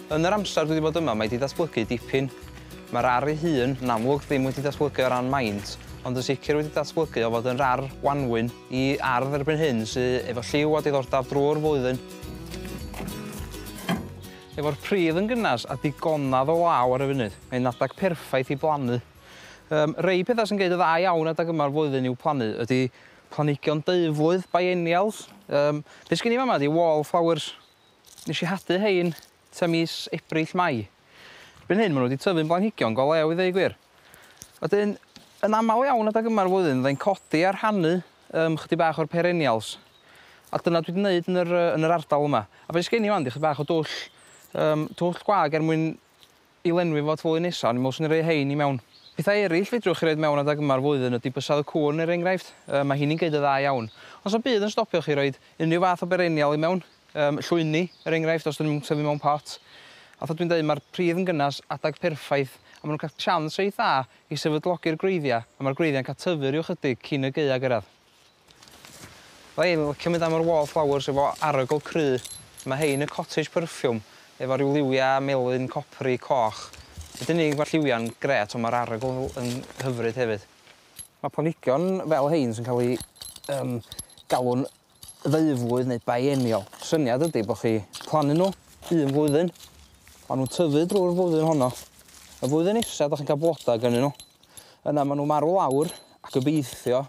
Yn yr amser dwi wedi bod yma, mae 'di datblygu dipyn. Mae'r ar ei hun yn amlwg ddim wedi datblygu o ran maint, ond yn sicr wedi datblygu o fod yn rar wanwyn i ardd erbyn hyn sy efo lliw a diddordab drwy'r flwyddyn. Efo'r pridd yn gynnas a digonedd o law ar y funud, mae'n adeg perffaith i blannu. Um, rei pethau sy'n gwneud y dda iawn adeg yma'r flwyddyn i'w plannu ydy Planhigion deuflwydd, biennials. Yym, be' sgin i fama 'di wall flowers. Nesh i hadu rhein tua mis Ebrill, Mai. Erbyn hyn ma' nw 'di tyfu'n blanhigion go lew i ddeu gwir. Wedyn, yn amal iawn adag yma'r flwyddyn fyddai'n codi a rhannu yym chydig bach o'r perennials. A dyna dwi 'di neud yn yr yy yn yr ardal yma. A be' sgin i 'wan 'di chydig bach o dwll yym twll gwag er mwyn I lenwi fo at flwyddyn nesa, o'n i'n meddwl 'swn i'n rhoi rhein i mewn. Pethau ereill fedrwch chi roid mewn adeg yma'r flwyddyn ydi bysedd y cŵn er enghraifft, yy ma' hini'n gneud yn dda iawn. Ond 'sa'm byd yn stopio chi roid unrhyw fath o berenial i mewn, yym llwyni er enghraifft os 'dyn nhw'm yn tyfu mewn pot. Fatha dwi'n deud ma'r pridd yn gynnes, adeg perffaith, a ma' nhw'n cael chance reit dda i sefydlogi'r gwreiddia', a ma'r gwreiddia'n cael tyfu ryw 'chydig cyn y gaea gyrradd. Wel fi'n licio mynd am yr wall flowers efo arogl cry. Mae rhein yn cottage perfume efo rhyw liwia melyn copri coch. Nid yn unig mae'r lliwia'n grêt ond mae'r arogl yn hyfryd hefyd. Mae planhigion fel rhein sy'n cael eu galw'n ddeuflwydd neu biennial. Syniad ydy bod chi plannu nhw un flwyddyn, maen nhw'n tyfu drwy'r flwyddyn honno. Y flwyddyn nesa dach chi'n cael blodau gynnyn nhw. Yna maen nhw'n marw lawr a gobeithio